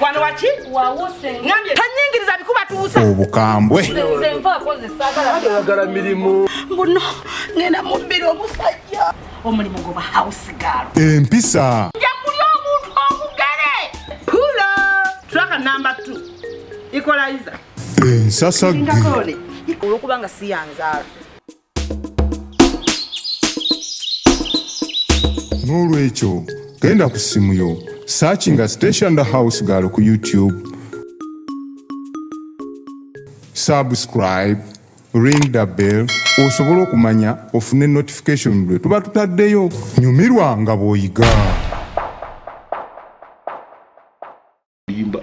wano waki tanyingiriza bikubatuusa obukambwe mbuno ngenda mubbira omusajja omulimu goba house gal empisa njakuli omuntu omugere pulo traka number 2 equalizer ensasagge olwokubanga siyanzaala n'olwekyo genda ku ssimu yo searchinga station the house gal ku youtube subscribe ring the bell osobola okumanya ofune notification lwe tuba tutaddeyo nyumirwa nga bw'oyiga yimba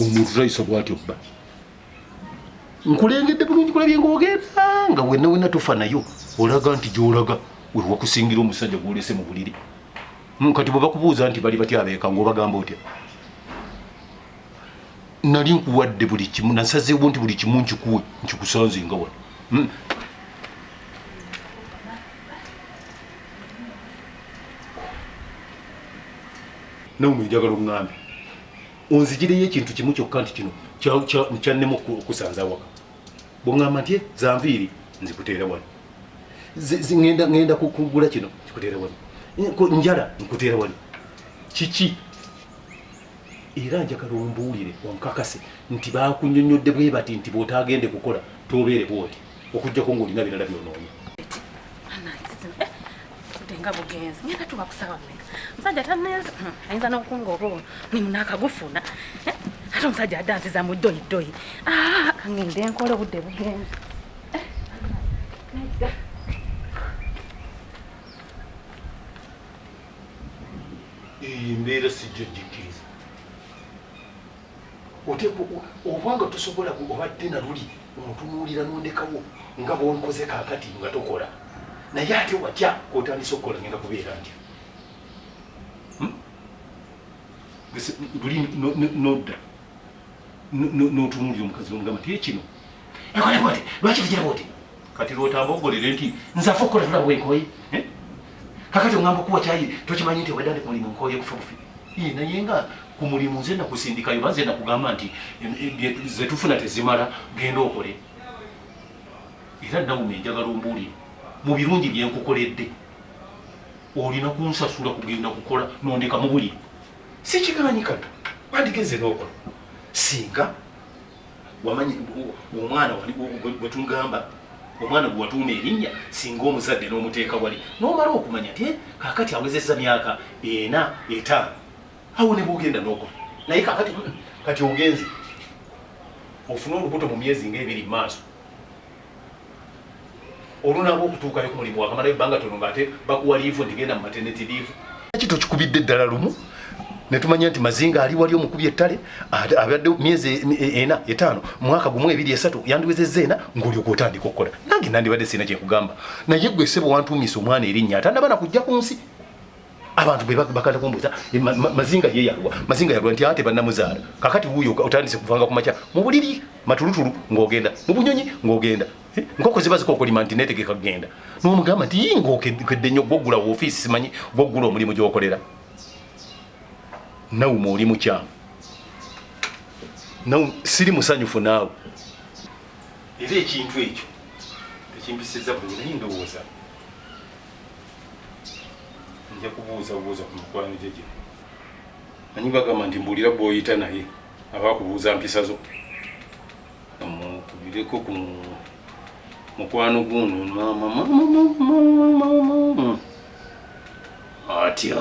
omuntu tayisa bwatyo bba nkulengedde bulungi kulabye ngaogenda nga wena wena tofa nayo olaga nti gyolaga wewakusingira omusajja gwolese mu buliri hmm, kati bwebakubuuza nti bali batya abeeka ngaobagamba otya nali nkuwadde buli kimu nasazeewo nti buli kimu nkikuwe nkikusanze nga wano hmm. nawe mwenjagala oŋŋambe onzigireyo ekintu kimu kyokka nti kino kyannema okusanza awaka bwoŋŋamba nti eh, zanviiri nzikuteera wano ŋenda kugula kino kikuteera wano njala nkuteera wano kiki era njagala ombuulire onkakase nti bakunyonnyodde bwe bati nti bw'otaagende kukola tobeere bwoti okujjako ng'olina birala byonoonya nga bugenzi ngenda tuba kusaba mmeka omusajja taneza hmm, ayinza n'okunga oba ono mulimu n'akagufuna eh, ate omusajja adansiza mu ddoyi ddoyi ah, kangende nkola obudde bugenzi eh, iyi mbeera sijja gikkiriza oteekwa obanga tosobola obadde na luli ontunuulira nondekawo nga bwonkoze kakati nga tokola naye ate watya kotandisa okukola ngenda kubeera ntya hmm? luli nodda notunuulira omukazi nomugamba tiye kino ekolebwote lwaki tujirawote kati lwotamba ogolere nti nze afa okukola tulaga wenkooye eh? kakati ongamba okuwa kyayi tokimanyi nti obadde ndi ku mulimu nkooye kufa bufi naye nga ku mulimu nze nakusindikayo ba nze nakugamba nti zetufuna tezimala genda okole era nawuma enjagala ombuulire mu birungi byenkukoledde olina kunsasula kugenda kukola nondeka mubulire sikigaanyi kata bandigeze nokola singa wamanyi omwana wetugamba omwana gwe watuuma erinnya singa omuzadde n'omuteeka wali n'omala okumanya nti eh, kakati awezezza myaka ena etaano awo ne bwogenda n'okola naye kakati kati ogenze ofune olubuto mu myezi ng'ebiri mu maaso olunaba okutuukayo ku mulimu wakamalayo ebbanga tono nga ate bakuwa liivu nti genda mu mateneti liivu ki tokikubidde eddala lumu netumanya nti mazinga ali wali omukubi ettale abadde myezi e, e, ena etaano mwaka gumu ebiri esatu yandiwezezza ena ngaolyoka otandika okukola nange nandibadde sirina kyekugamba naye gwe sebo wantuumisa omwana erinnya atanaba nakujja ku nsi abantu be bakanda kumbuza mazinga ye yalwa mazinga yalwa nti ate banamuzala kakati wuyo otandise kuvanga kumacha mu buliri matulutulu ngogenda mu bunyonyi ngogenda eh, nkoko ziba zikoko limanti netegeka kugenda nomugamba nti yinga okedde nnyo gwogula wo ofisi simanyi gwogula omulimu gyokolera nawe muoli mukyamu nawe siri musanyufu naawe era ekintu ekyo ekimpisiza buli naye ndowooza nja kubuuza buuza ku mukwano gye gye manyi bagamba nti mbuulira bw'oyita naye aba akubuuza mpisa zo amukubireko ku mukwano guno atya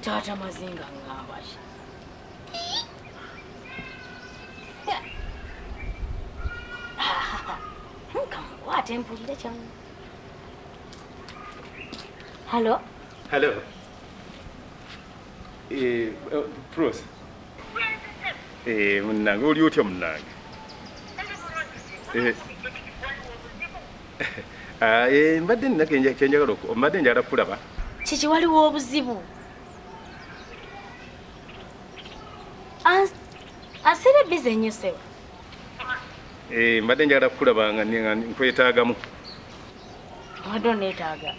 Tata mazinga ngamba shi. Nkamkwate mpulire kyamu. Hello? Hello. Eh, uh, Pross. Eh, munange oli otya munange? Eh. Ah, eh, mbadde nina kyenjagala mbadde njagala kulaba kiki waliwo obuzibu asire bize ennyo sewa eh, mbadde njagala kukulaba nga nkwetaagamu mbadde oneetaaga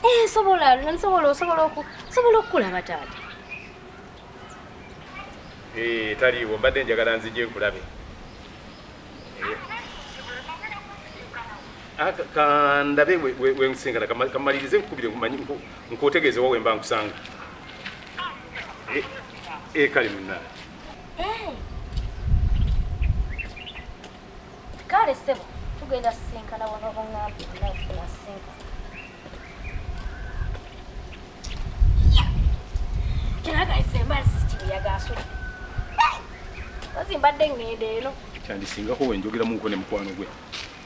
eh, nsobola nsobola osobola okukulaba taata Eh, taliiwo mbadde njagala nzije nkulabe eh. ah, kandabe wenkusingana kamalirize nkukubire nkutegeeze wa wemba nkusanga eh, kale munaa Kale sebo tugenda sinkana wano bang'ambi naye tunasinkana. Kiragaise mbali sikiyaga asula. Kazi mbadde ng'enda eno. Kyandisingako we njogera mu nko ne mukwano gwe.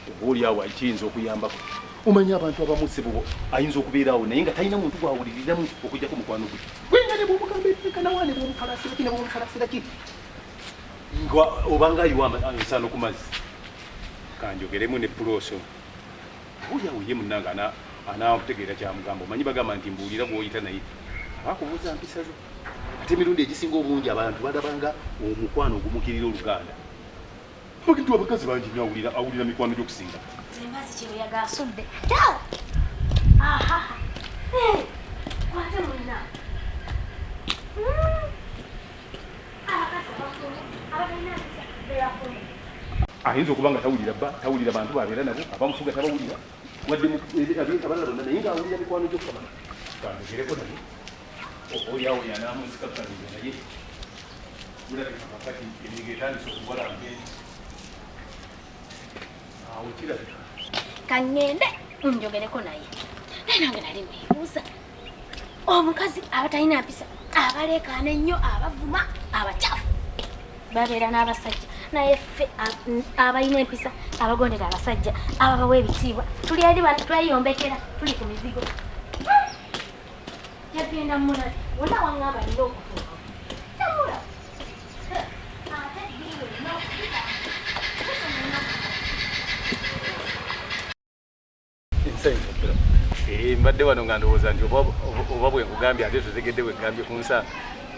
Oba oli awo akiyinza okuyambako. Omanyi abantu abamu sebo ayinza okubeera awo naye nga talina muntu gwawuliriramu okujjako mukwano gwe. Gwe nga ne bw'omugamba ebitekana wa ne bw'omukalasira ki ne bw'omukalasira ki. nga obanga ayiwa ensano ku mazzi kanjogeremu ne puloso oyawo ye munange anakutegeera kyamugamba omanyi bagamba nti mbuulira gwoyita naye abakubuuza mpisa zo ate emirundi egisinga obungi abantu balabanga omukwano ogumukirira oluganda bakintu abakazi bangi nyo awulira awulira mikwano gyokusinga Hey, what do we know? ayinza okuba nga tawulira bba tawulira bantu babeera nabo abamufuga tabawulira wadde abalala bonna naye ngaawulira mikwano gyokukamana kangereko naye oyawo yanamunzikakanire naye bulabika kakati emiga etandisa okuwala mbeeri awo kirabika kangende njogereko naye naye nange nali nebuuza omukazi abatalina mpisa abaleekaana ennyo abavuma abakyafu babeera n'abasajja naye ffe abalina empisa abagondera abasajja ababawa ebitiibwa tuli ali bano tweyombekera tuli ku mizigo yagenda muna wona waŋŋamba nina okutuuka Eh, mbadde wano nga ndowooza nti oba bwenkugambye ate tuzegedde bwekugambye ku nsaa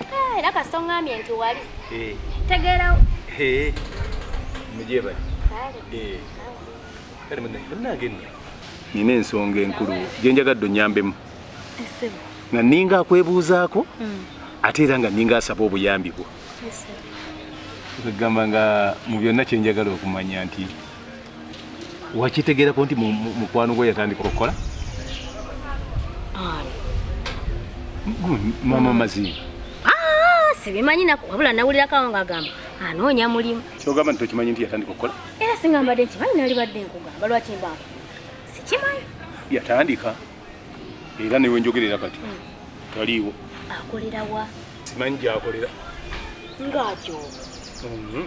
eh, era kasita ongambye nti wali eh. tegeerawo mugyebali kale munange nno nina ensonga enkulu gyenjagadde onyambemu nga ninga akwebuuzaako hmm. ate era nga ninga asaba obuyambi bwo egamba nga mu byonna kyenjagala okumanya nti wakitegeerako nti mukwano gwe yatandika okukola mama mazinga ah, sibimanyi naku wabula nawulirako awo ngaagamba anoonya mulimu kyogamba nti tokimanyi nti yatandika okukola era singa mbadde nkimanyi nalibadde nkugamba lwaki mba sikimanyi yatandika era newe njogerera kati hmm. taliiwo akolera wa simanyi gyakolera ngaakyo mm-hmm.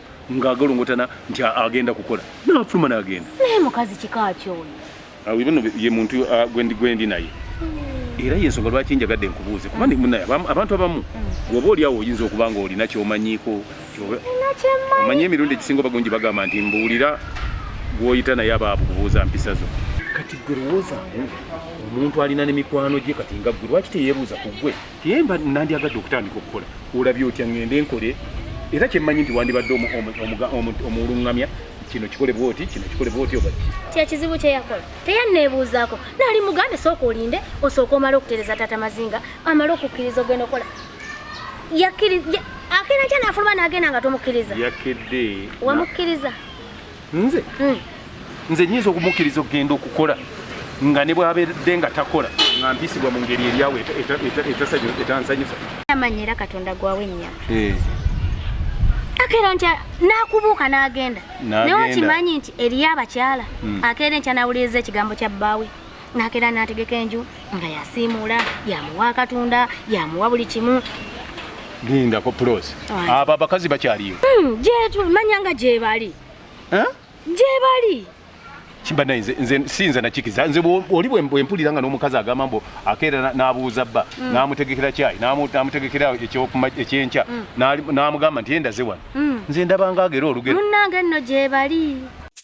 nga agolongotana nti agenda kukola nafuluma nagenda naye mukazi kika kyoyo awo ibino ye muntu uh, gwendi gwendi naye hmm. era yensonga lwaki njagadde nkubuuze kuba nemunaye abantu abamu hmm. woba oli awo oyinza okuba nga olina kyomanyiiko omanyi emirundi egisinga obagungi bagamba nti mbuulira gwoyita naye abaabu kubuuza mpisa zo kati gwe lowooza omuntu alina ne mikwano gye kati nga gwe lwaki teyebuuza ku gwe naye mba nandyagadde okutandika okukola olabye otya ŋŋende nkole era kyemmanyi nti wandibadde omuwulungamya kino kikole bwoti kino kikole bwoti oba kyekizibu kyeyakola teyanneebuuzaako naali mugambe sooka olinde osooka omala okutereza taata mazinga amale okukkiriza ogenda okola akira kya nafuluma nagenda nga tomukkiriza yakedde wamukkiriza nze hmm. nze nyinza okumukkiriza okugenda okukola nga ne bwabadde nga takola nga mpisibwa mu ngeri eryawo etansanyusa amanyi era katonda gwawo ennyama eh. akeera nti n'akubuuka n'agenda naye okimanyi nti eriyo abakyala hmm. akeera enkya nawuliriza ekigambo kya bbaawe n'akeera n'ategeka enju nga yasiimuula yamuwa akatunda yamuwa buli kimu lindako pulosi abo abakazi bakyaliyo hmm, gyetulumanya nga gyebali gyebali kimba naye nze sinza nakikiza nze oli bwempulira nga n'omukazi agamba mbu akeera n'abuuza bba hmm. n'amutegekera kyayi n'amutegekera ekyenkya hmm. n'amugamba nti endaze wano nze ndabanga agera olugero munnange nno gyebali